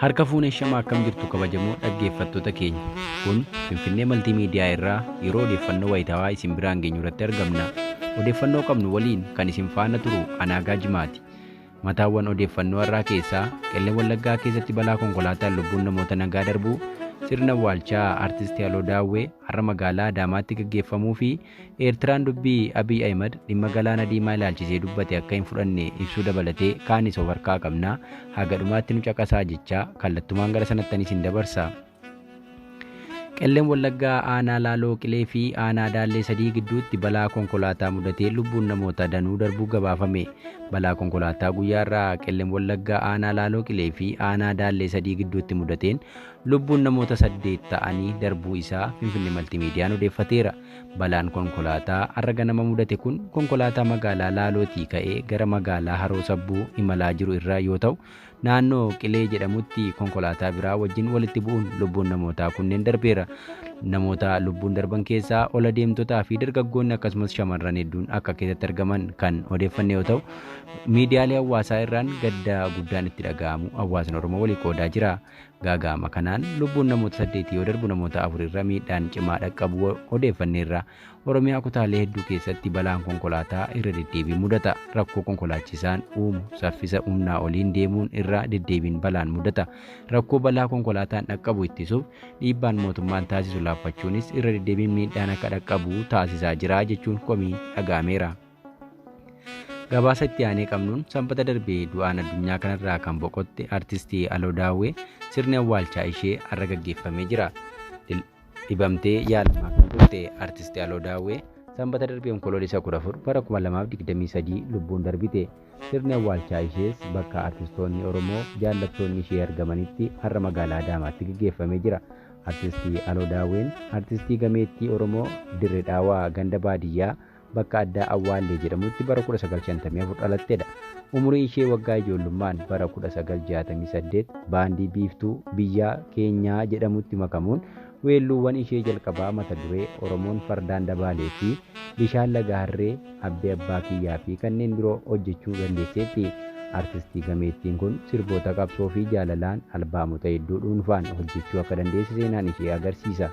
Harka fuunee shama akkam jirtu kabajamoo dhaggeeffattoota keenya. Kun Finfinnee Maltiimiidiyaa irraa yeroo odeeffannoo wayitaawaa isin biraan geenyu irratti argamna. Odeeffannoo qabnu waliin kan isin faana turu Anaagaa Jimaati. Mataawwan odeeffannoo har'aa keessaa Qellem Wallaggaa keessatti balaa konkolaataan lubbuun namoota nagaa darbuu, sirna awwaalchaa Artisti Aloo Daawwee har'a magaalaa Adaamaatti gaggeeffamuu fi Eertiraan dubbii Abiy Ahimad dhimma Galaana Diimaa ilaalchisee dubbate akka hin fudhanne ibsuu dabalatee kaanis of harkaa qabna. Haga dhumaatti nu caqasaa jechaa kallattumaan gara sanattanis hin dabarsa. Qellem Wallaggaa aanaa Laaloo Qilee fi aanaa Daallee sadii gidduutti balaa konkolaataa mudatee lubbuun namoota danuu darbuu gabaafame. Balaa konkolaataa guyyaa irraa Qellem Wallaggaa aanaa Laaloo Qilee fi aanaa Daallee sadii gidduutti mudateen Lubbuun namoota saddeet ta'anii darbuu isaa Finfinnee Maltiimiidiyaan odeeffateera. Balaan konkolaataa har'a ganama mudate kun konkolaataa magaalaa Laalootii ka'ee gara magaalaa Haroo Sabbuu imalaa jiru irra yoo ta'u, naannoo Qilee jedhamutti konkolaataa biraa wajjin walitti bu'uun lubbuun namootaa kunneen darbeera. Namoota lubbuun darban keessaa ol adeemtotaa fi dargaggoonni akkasumas shamarran hedduun akka keessatti argaman kan odeeffanne yoo ta'u, miidiyaalee hawaasaa irraan gadda guddaan itti dhaga'amu hawaasni Oromoo walii qoodaa jira. Gaaga'ama kanaan lubbuun namoota saddeetii yoo darbu namoota afurirra miidhaan cimaa dhaqqabuu odeeffanneerra. Oromiyaa kutaalee hedduu keessatti balaan konkolaataa irra deddeebiin mudata. Rakkoo konkolaachisaan uumu saffisa humnaa oliin deemuun irra deddeebiin balaan mudata. Rakkoo balaa konkolaataan dhaqqabu ittisuuf dhiibbaan mootummaan taasisu laaffachuunis irra deddeebiin miidhaan akka dhaqqabu taasisaa jira jechuun komiin dhaga'ameera. Gabaasa itti aanee qabnuun sanbata darbee du'aan addunyaa kanarraa kan boqotte artistii Aloo Daawwee sirni awwaalchaa ishee har'a gaggeeffamee jira. Dhibamtee yaalamaa kan turte artistii Aloo Daawwee sanbata darbee onkoloolessa 14 bara 2023 lubbuun darbite. Sirni awwaalchaa ishees bakka artistoonni Oromoo jaallattoonni ishee argamanitti har'a magaalaa Adaamaatti gaggeeffamee jira. Artistii Aloo Daawween artistii gameettii Oromoo Dirre Dhaawaa ganda baadiyyaa bakka addaa Awwaallee jedhamutti bara 1954 dhalattedha. Umurii ishee waggaa ijoollummaan bara 1968 baandii Biiftuu Biyyaa Keenyaa jedhamutti makamuun weelluuwwan ishee jalqabaa mata duree Oromoon Fardaan Dabaalee fi Bishaan Laga Harree, Abbee Abbaa Kiyyaa fi kanneen biroo hojjechuu dandeesseetti. Artistii gameettiin kun sirboota qabsoo fi jaalalaan albaamota hedduu dhuunfaan hojjechuu akka dandeesse seenaan ishee agarsiisa.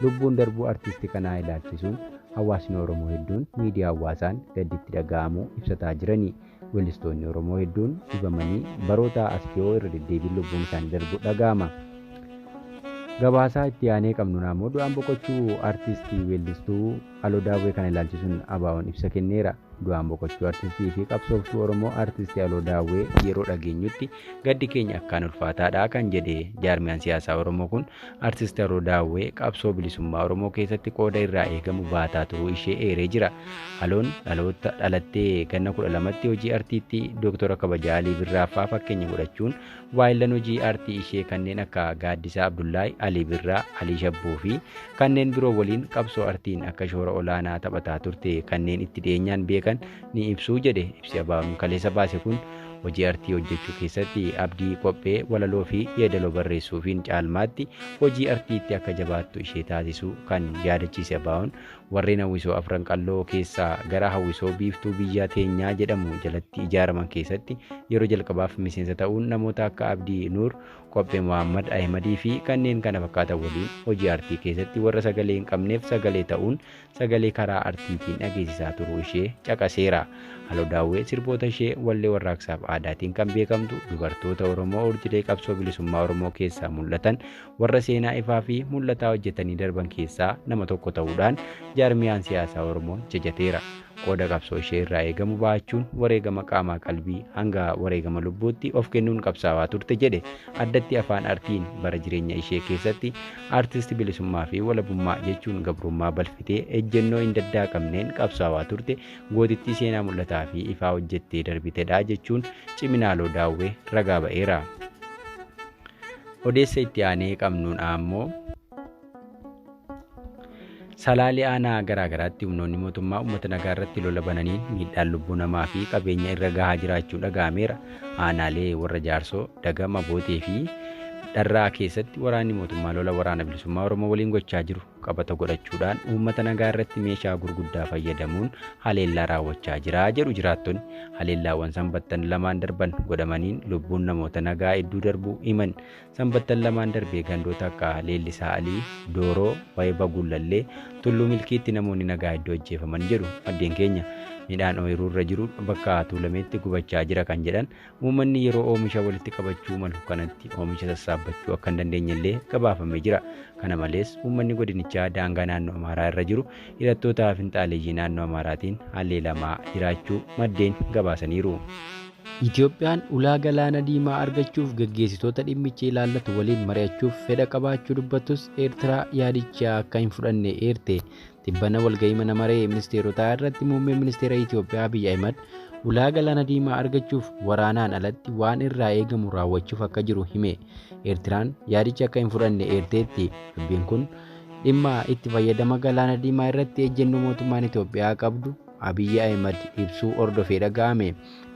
Lubbuun darbuu artisti kanaa ilaalchisuun Hawaasni Oromoo hedduun miidiyaa hawwaasaan gaddi itti dhaga'amu ibsataa jirani. Weellistoonni Oromoo hedduun dhibamanii barootaa as dhiyoo irra deddeebiin lubbuun isaanii darbu dhaga'ama. Gabaasaa itti aanee qabnuun ammoo du'aan boqochuu artisti weellistuu Aloo Daawwee kana ilaalchisuun ABOn ibsa kenneera. Du'aan boqochuu artistii fi qabsooftuu Oromoo artisti Aloo Daawwee yeroo dhageenyutti gaddi keenya akkaan ulfaataadha kan jedhe jaarmiyaan siyaasaa Oromoo kun Artist Haroo Daawwee qabsoo bilisummaa Oromoo keessatti qooda irraa eegamu baataa turuu ishee eeree jira. Haloon dhaloota dhalattee ganna 12tti hojii artiitti Dooktora Kabajaa Alii Birraa faa fakkeenya godhachuun waayillan hojii aartii ishee kanneen akka Gaaddisaa Abdullaahi, Alii Birraa, Alii Shabbuu fi kanneen biroo waliin qabsoo artiin akka shoora olaanaa taphataa turte kanneen itti dhiyeenyaan beekan ni ibsu jedhe ibsi ABOn kaleessa baase kun. Hojii artii hojjechuu keessatti Abdii qophee, walaloofi yeedaloo barreessuufiin caalmaatti hojii artiitti akka jabaattu ishee taasisuu kan yaadachiise Abaawoon, warreen hawwisoo Afran Qalloo keessaa gara hawwisoo Biiftuu Biyya Teenyaa jedhamu jalatti ijaaraman keessatti yeroo jalqabaaf miseensa ta'uun namoota akka Abdii Nuur, Qophee Mohaammad Ahimadiifi kanneen kana fakkaatan waliin hojii artii keessatti warra sagalee hin qabneef sagalee ta'uun sagalee karaa artiitiin dhageessisaa turuu ishee caqaseera. Halo Daawwee sirboota ishee wallee warraaqsaaf aadaatiin kan beekamtu dubartoota Oromoo urjilee qabsoo bilisummaa Oromoo keessaa mul'atan warra seenaa ifaa fi mul'ataa hojjetanii darban keessaa nama tokko ta'uudhaan jaarmiyaan siyaasaa Oromoo jajateera. Qooda qabsoo ishee irraa eegamu ba'achuun wareegama qaamaa qalbii hanga wareegama lubbuutti of kennuun qabsaawaa turte jedhe addatti afaan artiin bara jireenya ishee keessatti Artist Bilisummaa fi Walabummaa jechuun gabrummaa balfitee ejjennoo hin daddaaqamneen qabsaawaa turte gootittii seenaa mul'ataa fi ifaa hojjettee darbitedha jechuun Ciminaaloo Daawwee ragaa ba'eera. Odeessa itti aanee qabnuun ammoo Salaalee aanaa garaa garaatti humnoonni mootummaa uummata nagaa irratti lola bananiin miidhaan lubbuu namaa fi qabeenya irra gahaa jiraachuu dhaga'ameera. Aanaalee warra jaarsoo, dagama, bootee fi dharraa keessatti waraanni mootummaa lola waraana bilisummaa Oromoo waliin gochaa jiru qabata godhachuudhaan uummata nagaa irratti meeshaa gurguddaa fayyadamuun haleellaa raawwachaa jira jedhu jiraattonni. Haleellaawwan sanbattan lamaan darban godhamaniin lubbuun namoota nagaa hedduu darbuu himan. Sanbattan lamaan darbe gandoota akka Leellisaa Alii, Dooroo, Wayba Gullallee, Tulluu Milkiitti namoonni nagaa hedduu ajjeefaman jedhu maddeen keenya. Midhaan ooyiruu irra jiru bakka tuulameetti gubachaa jira kan jedhan uummanni yeroo oomisha walitti qabachuu malu kanatti oomisha sassaabbachuu akka hin dandeenye illee gabaafamee jira. Kana malees uummanni godinichaa daangaa naannoo Amaaraa irra jiru hidhattoota finxaaleyyii naannoo Amaaraatiin haleelamaa jiraachuu maddeen gabaasaniiru. Itiyoophiyaan ulaa Galaana Diimaa argachuuf gaggeessitoota dhimmichi ilaallatu waliin mari'achuuf fedha qabaachuu dubbattus Eertiraa yaadicha akka hin fudhanne eerte. Tibbana walga'ii mana maree ministeerotaa irratti muummeen ministeera Itiyoophiyaa Abiy Ahimad ulaa Galaana Diimaa argachuuf waraanaan alatti waan irraa eegamu raawwachuuf akka jiru hime. Eertiraan yaadicha akka hin fudhanne eerteetti. Dubbiin kun dhimma itti fayyadama Galaana Diimaa irratti ejjennoo mootummaan Itiyoophiyaa qabdu Abiy Ahimad ibsuu hordofee dhaga'ame.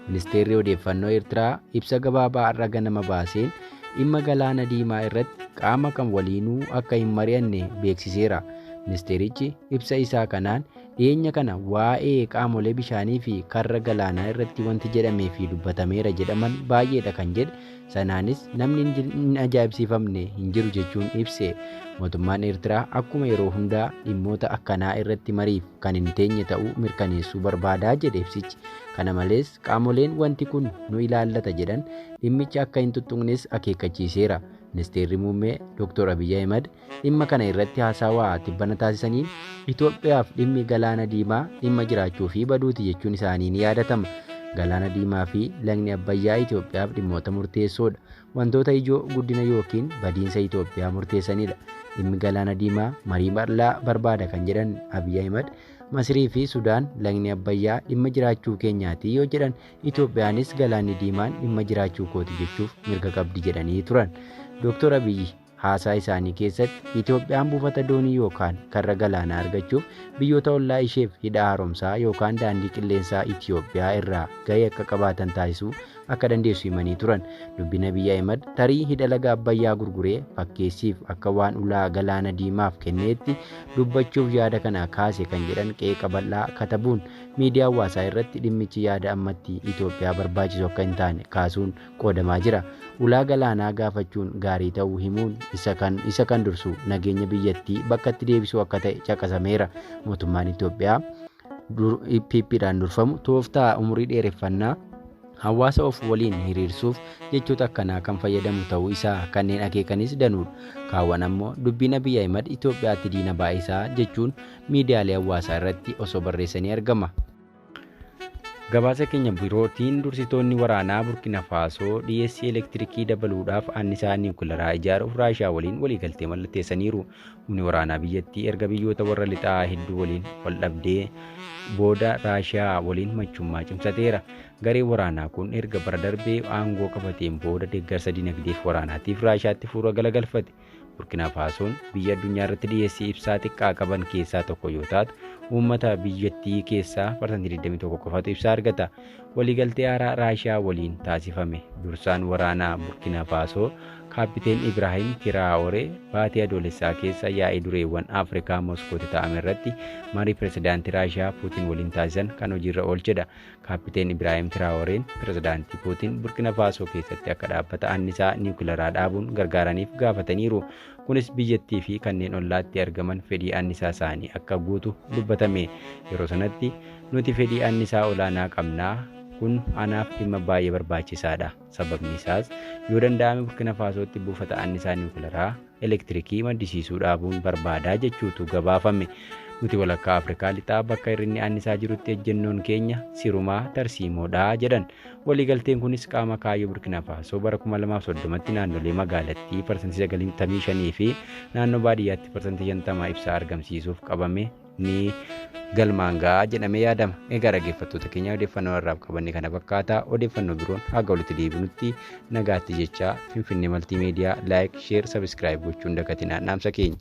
Ministeerri Odeeffannoo Eertiraa ibsa gabaabaa har'a ganama baaseen dhimma galaana diimaa irratti qaama kam waliinuu akka hin mari'anne beeksiseera. Ministeerichi ibsa isaa kanaan dhiyeenya kana waa'ee qaamolee bishaanii fi karra galaanaa irratti wanti jedhamee fi dubbatameera jedhaman baay'eedha kan jedhe Sanaanis namni hin ajaa'ibsiifamne hin jiru jechuun ibse. Mootummaan Eertiraa akkuma yeroo hundaa dhimmoota akkanaa irratti mariif kan hin teenye ta'uu mirkaneessuu barbaada jedhe ibsichi. Kana malees qaamoleen wanti kun nu ilaallata jedhan dhimmicha akka hin tuttuqnes akeekkachiiseera. Ministeerri Muummee Dr. Abiy Ahimad Dhimma kana irratti haasawaa tibbana taasisaniin Itoophiyaaf dhimmi Galaana Diimaa dhimma jiraachuu fi baduuti jechuun isaanii ni yaadatama. Galaana Diimaa fi Lagni Abbayyaa Itoophiyaaf dhimmoota murteessoodha. Wantoota ijoo guddina yookiin badiinsa Itoophiyaa murteessanidha. Dhimmi Galaana Diimaa marii bal'aa barbaada kan jedhan Abiy Ahimad, Masirii fi Sudaan Lagni Abbayyaa dhimma jiraachuu keenyaati yoo jedhan Itoophiyaanis Galaanni Diimaan dhimma jiraachuu kooti jechuuf mirga qabdi jedhanii turan. Dooktor Abiyyi Haasaa isaanii keessatti, Itoophiyaan buufata doonii yookaan karra galaanaa argachuuf biyyoota ollaa isheef hidha haaromsaa yookaan daandii qilleensaa Itoophiyaa irraa gahee akka qabaatan taasisuu akka dandeessu himanii turan. Dubbiin Abiy Ahimad tarii hidha laga Abbayyaa gurguree fakkeessiif akka waan ulaa Galaana Diimaaf kenneetti dubbachuuf yaada kana kaase kan jedhan qeeqa bal'aa katabuun miidiyaa hawaasaa irratti dhimmichi yaada ammatti Itoophiyaa barbaachisu akka hin taane kaasuun qoodamaa jira. Ulaa galaanaa gaafachuun gaarii ta'uu himuun, isa kan isa kan dursu nageenya biyyattii bakkatti deebisuu akka ta'e caqasameera. Mootummaan Itoophiyaa dur PPdhaan durfamu tooftaa umurii dheereffannaa hawaasa of waliin hiriirsuuf jechoota akkanaa kan fayyadamu ta'uu isaa kanneen akeekanis danuudha. Kaawwan ammoo dubbiin Abiy Ahimad Itoophiyaatti diina baay'isaa jechuun miidiyaalee hawaasaa irratti osoo barreessanii argama. Gabaasa keenya birootiin dursitoonni waraanaa Burkina Faasoo dhiyeessii elektirikii dabaluudhaaf annisaa niwukilaraa ijaaruuf Raashiyaa waliin waliigaltee mallatteessaniiru. Humni waraanaa biyyattii erga biyyoota warra lixaa hedduu waliin wal dhabdee booda Raashiyaa waliin machummaa cimsateera. Gareen waraanaa kun erga bara darbee aangoo qabateen booda deeggarsa dinagdeef waraanaatiif Raashiyaatti fuula galagalfate. Burkina Faasoon biyya addunyaa irratti dhiyeessii ibsaa xiqqaa qaban keessaa tokko yoo taatu, uummata biyyattii keessaa parsantii 21 qofatu ibsaa argata. Waliigaltee haaraa Raashiyaa waliin taasifame. Dursaan waraanaa Burkina Faasoo Kaappiteen Ibraahim Tiraawore baatii adoolessaa keessa yaa'ii dureewwan Afrikaa Moskootti ta'ame irratti marii pirezidaantii Raashiyaa Puutin waliin taasisan kan hojiirra oolchedha. Kaappiteen Ibraahim Tiraaworeen Pirezidaantii Puutin Burkina Faasoo keessatti akka dhaabbata annisaa niwukilaraa dhaabuun gargaaraniif gaafataniiru. Kunis biyyattii fi kanneen ollaatti argaman fedhii annisaa isaanii akka guutu dubbatame. Yeroo sanatti, Nuti fedhii annisaa olaanaa qabna. Kun anaaf dhimma baay'ee barbaachisaadha. Sababni isaas, yoo danda'ame Burkina Faasootti buufata annisaa niwukilaraa elektirikii maddisiisuu dhaabuun barbaadaa jechuutu gabaafame. Nuti walakkaa Afrikaa lixaa bakka hir'inni annisaa jirutti ejjennoon keenya sirumaa tarsiimoodha jedhan. Waliigalteen kunis qaama kaayyoo Burkina Faasoo bara 2030tti naannolee magaalattii parsantii 95 fi naannoo baadiyyaatti parsantii 50 ibsaa argamsiisuuf qabame ni galmaan ga'a jedhamee yaadama. Egaa dhaggeeffattoota keenya odeeffannoo har'aaf qabanne kana fakkaata. Odeeffannoo biroon haga walitti deebinutti nagaatti jechaa Finfinnee Maltiimeediyaa laayik, sheer, sabiskiraayib gochuun dagatinaa dhaamsa keenya.